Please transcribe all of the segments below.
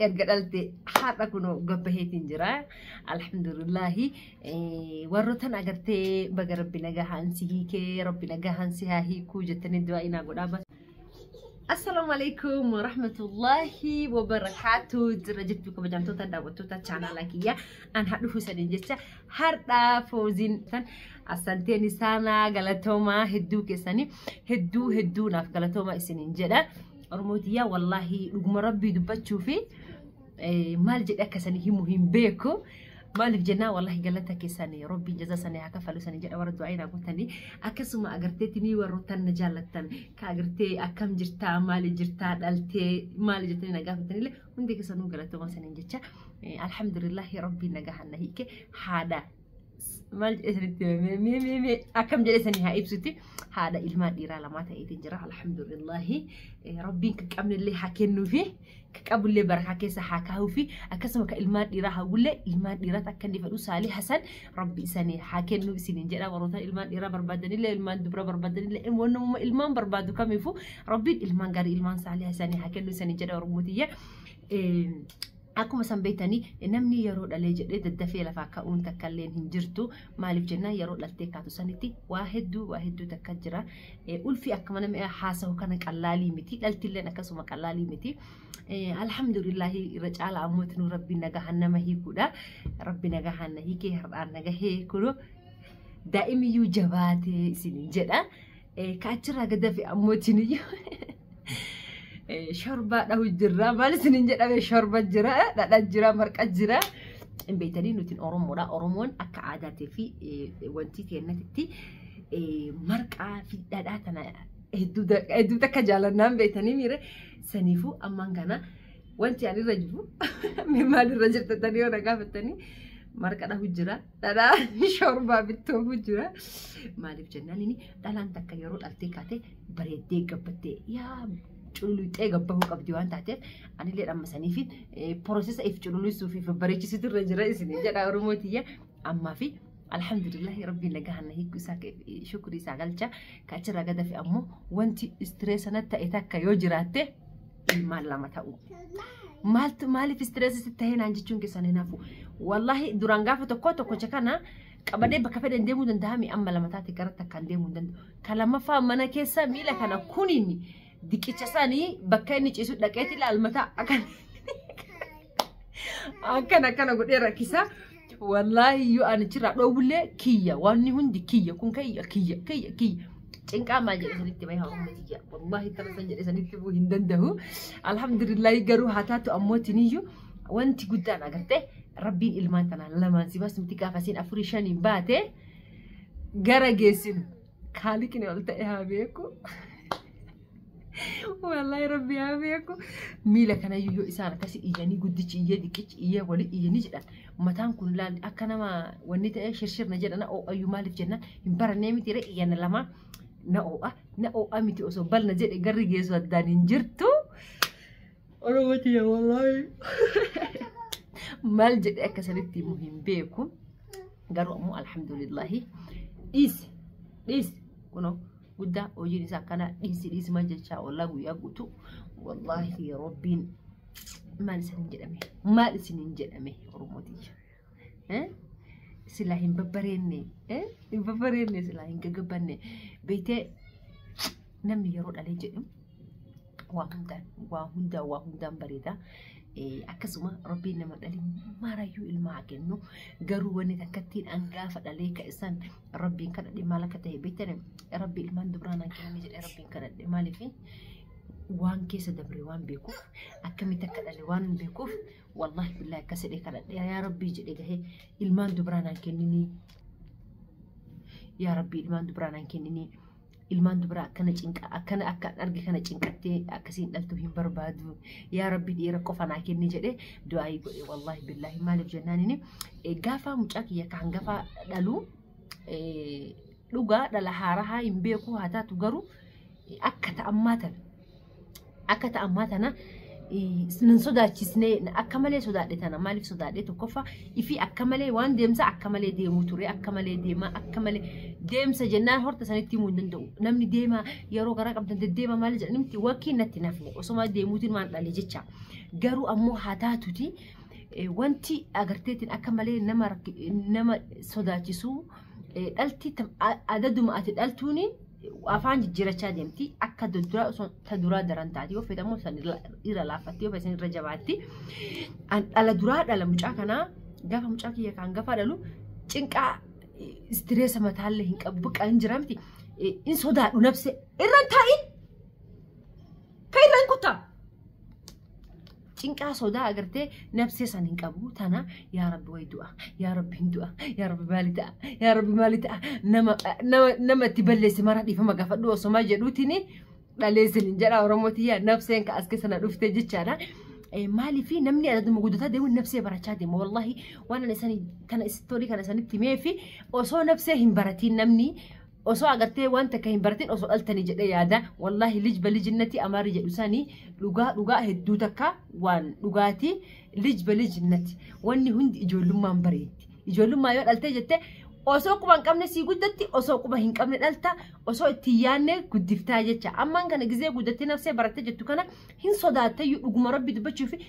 erga dhalte har'a kunoo gabbaheetiin jira alhamdulillahi warrotan agartee baga rabbi nagahaan si hiikee rabbi nagahaan si haa hiikuu jettanii du'aa inaa godhaa bas Assalamu alaikum wa rahmatullahi wa barakatuh. Jirra jirtu kabajamtoota daawwattoota chaanaala kiyya. An hadhufu isaaniin jecha har'a fooziin san assanteen isaanaa galatoomaa hedduu keessanii hedduu hedduu naaf galatoomaa isiniin jedha. Oromootiyaa wallaahi dhuguma rabbii dubbachuu fi maal jedhe akka sanii himu hin beeku. Maaliif jennaa wallaahi galata keessan rabbiin jaza sanii haa kafalu sanii jedha warra du'aa inaa gootanii akkasuma agarteetti mii warroottan na jaallattan ka agartee akkam jirtaa maali jirtaa dhaltee maali jettanii na gaafatanillee hundi keessanuu galatoomaa saniin jecha alhamdulillahi rabbiin nagahaan na hiike haadha maal jedhanitti mee mee mee mee akkam jedhe sanii haa ibsutti haadha ilmaan dhiiraa lamaa ta'eetiin jira alhamdulillahi Eh, rabbiin kan qabnellee haa kennuufi kan qabullee barakaa keessa haa kaa'uufi akkasuma kan ilmaan dhiiraa hawwullee ilmaan dhiiraatti akka inni fedhu saalii hasan rabbi isanii haa kennuu isiniin jedha warroota ilmaan dhiiraa barbaadanillee ilmaan dubra barbaadanillee wannumma ilmaan barbaadu kamiifuu rabbiin ilmaan gaarii ilmaan saalii hasanii haa kennuu isiniin jedha oromootiyya. Eh, Akkuma san beektanii namni yeroo dhalee jedhee daddafee lafaa ka'uun takka illee hin jirtu. Maaliif jennaan yeroo dhaltee kaatu sanitti waa hedduu waa hedduu takka jira. Ulfi akkuma namni haasahu kana qallaalii miti. Dhalti illee akkasuma qallaalii miti. Alhamdulillaahi irra caala ammoo itinuu rabbiin nagahaan nama hiikuudha. Rabbi nagahaan na hiikee har'aan nagahee kunoo daa'imiyyuu jabaatee isiniin jedha. Ka achirraa gad hafe ammoo isiniyyuu shorbaa dhahu jirra. Maal isiniin jedhame shorba jira, dhadha jira, marqa jira. Hin beektanii nuti Oromoodha. Oromoon akka aadaatii fi wanti keenyatti marqaa fi dhadhaa tana hedduu takka jaalannaan beektanii miire. Saniifuu ammaan kana wanti ani irra jiru maal irra jirtatanii yoo na gaafattanii marqa dhahu jira. Dhalaa shorbaa bittoofu jira. Maaliif jennaan inni dhalaan takka yeroo dhaltee kaatee bareeddee gabbattee yaa cululuxee gabbahuu qabdi waan taateef anillee dhammasanii fi poroosesa if cululussuu fi bareechisitu irra jira isin jedha Oromoo tiyya ammaa fi alhamdulillahi rabbiin nagahan na hiiku isaa shukrii isaa galcha kachirraa gadafi ammoo wanti istireessa na ta'e takka yoo jiraatte ilmaan lama ta'u. Maaltu maaliif istireessi sitti ta'ee naan jechuun keessan hin hafu. Wallaahi duraan gaafa tokko tokkocha kana qabadee bakka fedhan deemuu danda'a mi amma lama taate garatti akkaan deemuu hin danda'u. Kan lammaffaa mana keessa miila kana kuniin diqicha isaanii bakka inni ciisu dhaqeeti ilaalmataa akkan akkan akkana godhee rakkisa. Wallaahi iyyuu ani achirraa dhoowwullee kiyya wanni hundi kiyya kun kiyya kiyya kiyya kiyya. Cinqaa maal jedhe sanitti bahe hawaasa tiyya. Wallaahi kana san jedhe sanitti bu'uu hin danda'u. Alhamdulillah garuu haa taatu ammoo tiniyyuu wanti guddaan agartee rabbiin ilmaan tanaan lamaan si baasumti gaafa siin afurii shaniin baate gara geessinu. Kaaliqni ol ta'e haa beeku. Wallaahi rabbi haa beeku. Miila kana yoo isaan akkasi iyyanii guddichi iyyee xiqqichi iyyee wali iyyanii jedhan mataan kun laal akka nama wanni ta'e shirshirna jedhana oo'ayyuu maaliif jenna hin barannee miti ree iyyana lama na oo'a na oo'a miti osoo balna jedhe garri geessu addaan hin jirtu. Oromoo tiyya wallaahi. Maal jedhee akka sanitti himu hin beeku. Garuu ammoo alhamdulillahi dhiisi dhiisi kunoo guddaa hojiin isaa akkana dhiisi dhiisi maal jechaa ollaa guyyaa guutuu wallaahi rabbiin maal isin hin jedhame maal isin hin jedhame Oromoo tiyya. Eh? Silaa hin babbareenne. Eh? Hin babbareenne silaa hin gagabbanne. Beektee namni yeroo dhalee jedhu waa hundaan waa hundaa waa hundaan bareeda. Eh, Akkasuma rabbiin nama dhalee maarayyuu ilmaa haa kennu. Garuu wanni takkattiin hangaafa dhalee ka isaan rabbiin kadhadhe maal akka ta'e beektan rabbi ilmaan dubraan haa kennu jedhee rabbiin kadhadhe maaliifi? waan keessa dabre waan beekuuf akkamitti akka dhale waan beekuuf Wallahi billahi akkas jedhee kadhadhe yaa rabbii jedhe gahee ilmaan dubraa naan kenninii yaa rabbii ilmaan dubraa naan kenninii ilmaan dubraa akkana cinqa akkana akka arge kana cinqattee akkasiin dhaltuu hin barbaadu yaa rabbii dhiira qofa naa kenni jedhe du'aayii godhe wallahi billahi maaliif jennaan inni gaafaa mucaa kiyya kan gafaa dhaluu dhugaa dhala haarahaa hin beeku haa taatu garuu akka ta'ammaa tana akka ta ammaa tana nan sodaachisne akka malee sodaadhe tana maaliif sodaadhe tokkoffaa ifii akka malee waan deemsa akka malee deemuu ture akka malee deema akka malee deemsa jennaan horta sanitti himuu hin danda'u namni deema yeroo garaa qabdan deddeema maal jedhan miti wakkii natti nafne osoma deemuutiin waan dhale jecha garuu ammoo haa taatuti wanti agarteetiin akka malee nama nama sodaachisuu dhalti adaduma ati dhaltuuniin afaan jijjiirachaa deemti akka duraa osoo ta duraa daran taati yoo feetamu san irra laaffatti yoo feesan irra jabaatti an dhala duraa dhala mucaa kanaa gaafa mucaa kiyya kaan gaafa dhalu cinqaa istireesa mataallee hin qabu baqa hin jiramti in sodaadhu nabse irra hin taa'in ka irra hin kuttaa cinqaa sodaa agartee nabsee san hin qabu tana yaa rabbi way du'a yaa rabbi hin du'a yaa rabbi maali ta'a yaa rabbi maali ta'a nama nama nama itti balleesse mara dhiifama gaafadhu osoma jedhuutini dhaleessin hin jedha oromootiya nabseen ka as keessa na dhuftee jechaadha. Maalii fi namni adaduma guddataa deemuun nabsee barachaa deema wallahi waan ani isanii kana istorii kana isanitti himee fi osoo nabsee hin baratiin namni osoo agartee waan takka hin baratin osoo dhaltanii jedhee yaada wallaahi lij balijinnati amaarri jedhu sanii dhugaa dhugaa hedduu takka waan dhugaatii lij balijinnati wanni hundi ijoollummaan bareetti ijoollummaa yoo dhaltee jette osoo quba hin qabne sii guddatti osoo quba hin qabne dhalta osoo itti hin yaanne guddiftaa jecha ammaan kana gizee guddattee nafsee barattee jettu kana hin sodaattayyuu dhuguma rabbi dubbachuufi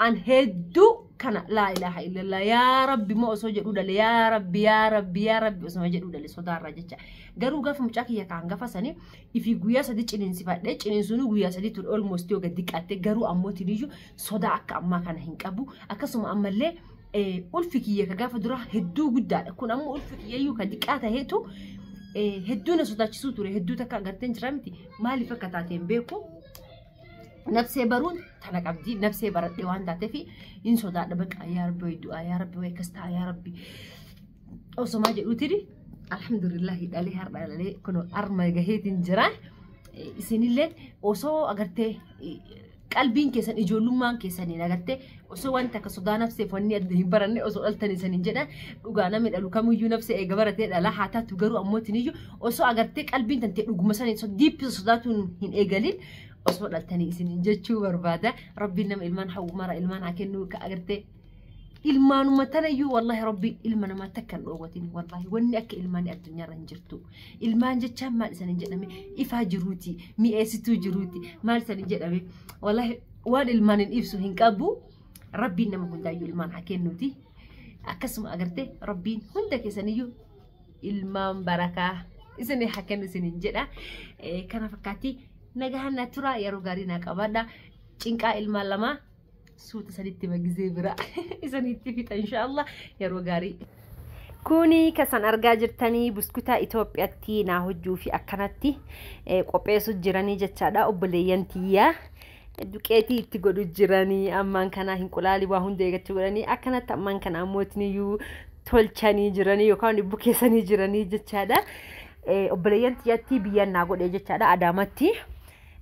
an hedduu kana laa ilaaha illallah yaa rabbi moo osoo jedhuu dhale yaa rabbi yaa rabbi yaa rabbi osuma jedhuu dhale sodaarraa jecha garuu gaafa mucaa kiyya kaan gafa sanii ifi guyyaa sadii ciniinsifadhe ciniinsuunuu guyyaa sadii ture olmost yoo gadi qatte garuu ammoo tiniyyuu sodaa akka ammaa kana hin qabu akkasuma ammallee ulfi kiyya ka gaafa duraa hedduu guddaadha kun ammoo ulfi kiyyayyuu ka diqqaa taheetu hedduu na sodaachisuu ture hedduu takka agarteen jira miti maaliif akka taateen beeku nafsee baruun tana qabdi nafsee baradhee waan taateef hin sodaadha baqa yaa rabbi wayi du'aa yaa rabbi wayi akkas ta'a yaa rabbi osomaa jedhuutiri alhamdulillahi dhalee har'a dhalee kun harma gaheetiin jira isinillee osoo agartee qalbiin keessan ijoollummaan keessaniin agartee osoo wanti akka sodaa nafseef wanni adda hin baranne osoo dhaltanii saniin jedha dhugaa namni dhalu kamiyyuu nafsee eega baratee dhala haa taatu garuu ammootiin iyyuu osoo agartee qalbiin tantee dhuguma saniin so diippisa sodaatuun hin eegalin osoo dhaltanii isiniin jechuu barbaada rabbiin nama ilmaan hawwumara ilmaan haa kennuu ka agartee ilmaanuma tana iyyuu wallahi rabbiin ilma namaa takka hin dhoowwatin wallahi wanni akka ilmaanii addunyaarra hin jirtu ilmaan jechaan maal isanin jedhame ifaa jiruuti mi'eessituu jiruuti maal isanin jedhame wallahi waan ilmaan hin ibsu hin qabu rabbiin nama hundaayyuu ilmaan haa kennuuti akkasuma agartee rabbiin hunda keessaniyyuu ilmaan barakaa isinii haa kennu isiniin jedha Eh, kana fakkaatti nagahan na tura yeroo gaarii na qabaadha cinqaa ilmaan lamaa suuta sanitti magizee bira isanitti fixa inshaallah yeroo gaarii Kuni kasan argaa jirtanii buskutaa Itoophiyatti naa hojjuu fi akkanatti eh, qopheessu jiranii jechaadha obboleeyyan tiyyaa. Duqeetii itti godhu jiranii ammaan kana hinqulaali waa hunda eeggachuu godhanii akkanatti ammaan kana ammootiniyyuu tolchanii jiranii yookaan bukeessanii jiranii jechaadha. Eh, Obboleeyyan tiyyatti biyyan naa godhe jechaadha Adaamatti.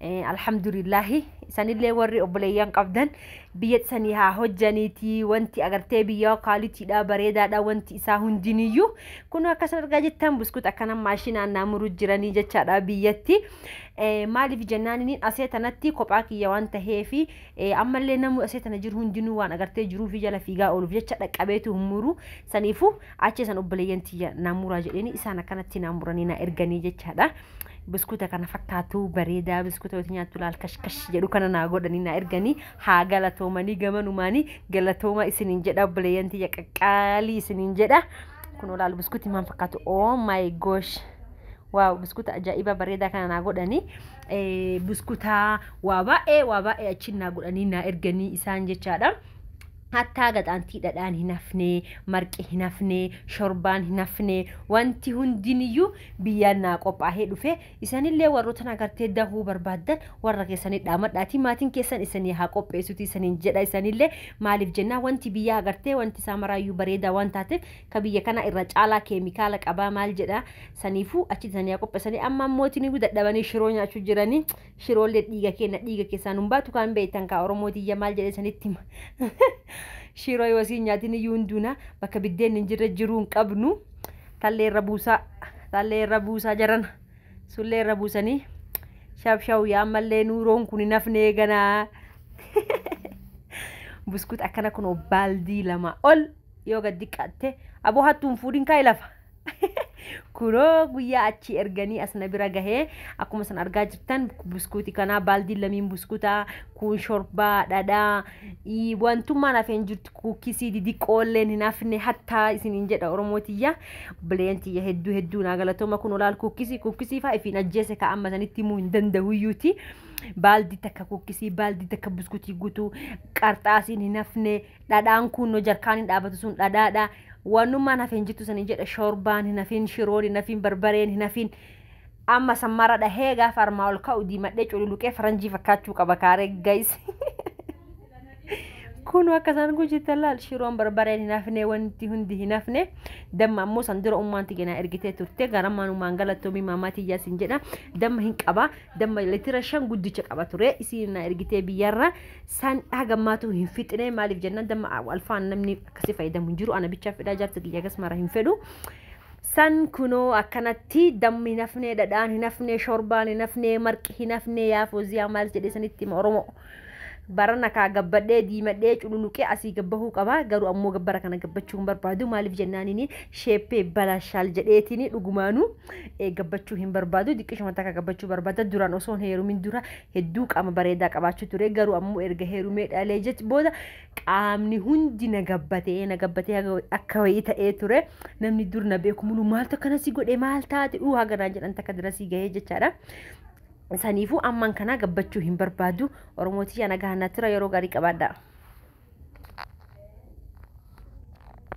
Eh, alhamdulillahi isanillee warri obboleeyyan qabdan biyyatti sanii haa hojjaniiti wanti agartee biyyaa kaaliitiidha bareedaadha wanti isaa hundiniyyuu kun akkasan argaa jettan buskut akkana maashinaan naa muruu jiranii jechaadha biyyatti Eh, maaliif jennaan inni asee tanatti kophaa kiyya waan taheefi eh, ammallee namuu asee tana jiru hundinuu waan agartee jiruufi jala fiigaa ooluuf jecha dhaqqabeetu hin muru saniifu Achi san obboleeyyan tiyya naa muraa jedheeni isaan akkanatti naa muranii naa erganii jechaadha. Biskuuta kana fakkaatu bareedaa biskuuta yoo nyaattu laal kashkash jedhu kana naa godhanii naa erganii haa galatoomanii gamanumaanii galatooma isiniin jedha obboleeyyan tiyya qaqqaalii isiniin jedha. Kun olaal biskuuti maal fakkaatu oh my gosh. Waaw biskuuta ajaa'ibaa bareedaa kana naa godhanii biskuuta waa baay'ee waa baay'ee achiin naa godhanii naa erganii isaan jechaadha. Hattaa gaxaantii dhadhaan hin hafne, marqi hin hafne, shorbaan hin hafne, wanti hundiniyyuu biyyaan naa qophaahee dhufe. Isanillee warrootan agartee dahuu barbaaddan warra keessanii dhaamadhaatii maatiin keessan isanii haa qopheessutii isaniin jedha. Isanillee maaliif jennaan wanti biyyaa agartee wanti isaa maraayyuu bareedaa waan taateef ka biyya kanaa irra caalaa keemikaala qabaa maal jedha. Saniifuu achitti isanii haa qopheessanii. Amma ammootiniyyu dadhabanii shiroo nyaachuu jiranii. Shiroollee dhiiga keenna dhiiga keessaan hin baatu kaan beektan kaa Oromoo tiyya maal jedhee sanitti hima. Shiroo yoo siin nyaatin iyyuu hin duuna bakka biddeen hin jirre jiruu hin qabnu. Tallee irra buusaa tallee irra buusaa jarana sullee irra buusanii shabshawu yaa ammallee nuuroon kun hin hafnee ganaa. Buskut akkana kun baaldii lama ol yoo gad diqqaatte aboo hattuun fuudhin kaa ilafa. Kunoo guyyaa achii erganii as na bira gahee akkuma san argaa jirtan buskuuti kanaa baaldiin lamiin buskutaa kun shorbaa dhadhaa ii, wantummaan hafeen jirtu kuukisii didiqqoolleen hin hafne hattaa isiniin jedha oromoo tiyya bileen tiyya hedduu hedduu naa galatooma kun olaal kuukisii kuukisii faa ifiin ajjeese ka amma sanitti himuu hin dandahuyyuuti baaldii takka kuukisii baaldii takka buskutii guutuu qarxaasiin hin hafne dhadhaan kuunnoo jarkaan hin dhaabatu sun dhadhaadha wanummaan hafe hin jirtu sanii jedha shoorbaan hin hafin shiroon hin hafin barbareen hin hafin amma sammara dhahee gaafa armaa ol ka'u diimadhee cululuqee faranjii fakkaachuu qaba kaaree gayis kunu akka isaan gujitan laal shiroon barbareen hin hafne wanti hundi hin hafne damma ammoo san dura ummaan tiyyanaa ergitee turte garammaan ummaan galattoomii maamaa tiyyaa sin jedha damma hin qaba damma litira shan guddicha qaba ture isiin na ergitee biyyarra san hagammaatu hin fixine maaliif jennaan damma alfaan namni akkasi fayyadamu hin jiru ana bichaa fedhaa jaarsa kiyya akkas mara hin fedhu san kunoo akkanatti dammi hin hafne dhadhaan hin hafne shorbaan hin hafne marqi hin hafne yaa fooziyaa maal jedhe sanitti hima oromoo Barana kaa gabbadhee diimadhee cululuqee asii gabbahuu qaba garuu ammoo bara kana gabbachuu hin barbaadu maaliif jennaaniin sheeppee balashaal jedheetiin dhugumaanuu eh, gabbachuu hin barbaadu diqqishuma takka gabbachuu barbaada duraan osoon heerumin dura hedduu qaama bareedaa qabaachuu ture garuu ammoo erga heerumee dhalee jech booda qaamni hundi na gabbatee na gabbatee haga wayi- akka wayii ta'ee ture namni dur na beeku muluu maaltu akkana si godhe maal taate uu haganaa jedhan takka dirasii gahee jechaadha. saniifuu amman kanaa gabbachuu hin barbaadu oromootiyyaan agahanaa tura yeroo gaarii qabaadhaa